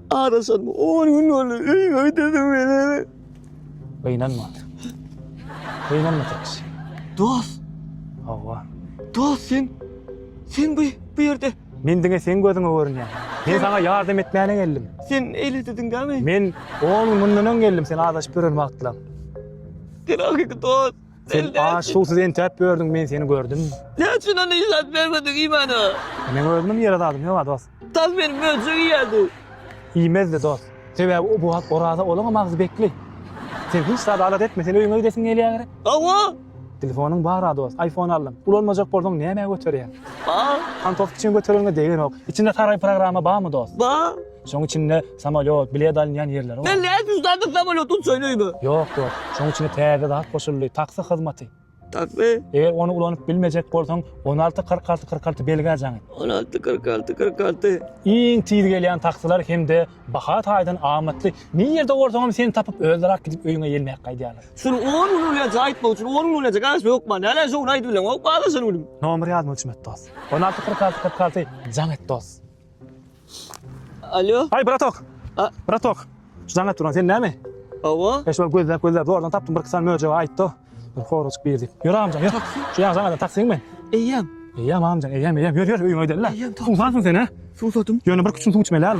Arasan on gün oldu. Öy öy dedim beni. Gynanma. Gynanma Taks. Dost. Hawa. Dost sen. Sen bu, bu yerde. Men diňe sen gözüňe görünýän. Men sana yardım etmäne geldim. Sen eli dedin değil mi? Men on gün mundan öň geldim sen azaşyp gören wagtlaň. Sen hakiki dost. Sen aç suwsuz entäp gördüň men seni gördüm. Ne üçin onu ilat vermedin imana? Men özümün ýere zadym ýok dost. Taz meni möjek iýerdi. Iýmezdi, dost. Sebäbi o wagt oraza olaňam agzy bekli. Sen hiç zat alat etme, sen öýüňe gidesiň gelýä gerek. Hawa. Telefonyň bar-a, dost. Aýfon aldym. Ulanmajak bolsaň nämä göterýäň? Bar. Hantow kiçiň götereniňe degenok. Içinde saraý programma barmy, dost? Bar. Şoň içinde samolýot, bilet alynýan ýerleri bar. Men nädip üç sany samolýot uçaýyn öýüme? Ýok, dost. Şoň içine täze zat goşuldy, taksi hyzmaty. Takmy? Eger ony ulanyp bilmejek bolsaň, on alty, kyrk alty, kyrk alty belgä jaň et. On alty, kyrk alty, kyrk alty. Iň tiz gelýän taksiler hem-de baha taýdan amatly. Nirede bolsaňam seni tapyp, özleri-ak gidip öýüňe ýelmäp gaýdýarlar. Şuny on gün ulanýança aýtmak üçin on gün ulanýança garaşyp hökman. Näleýin şo gün aýdyp bileňok, hop, garaşan günim. Nomer ýazmak üçin et dost. On alty, kyrk alty, kyrk alty, jaň et dost. Alo. Ay bratok. A bratok. Şudan duran sen näme? Awa. E şol gözläp gözläp zordan tapdym bir kısan möjege aýtdy. Bir horajyk bir diýip. Ýör amjan ýör. Şu ýaňy saňa taksiň men. Eýýäm. Eýýäm amjan eýýäm eýýäm ýör ýör öýüňe gidelim. Eýýäm. Suwsansyň sen he? Suwsadym. Ýöne bir küçüm suw içmeli hal.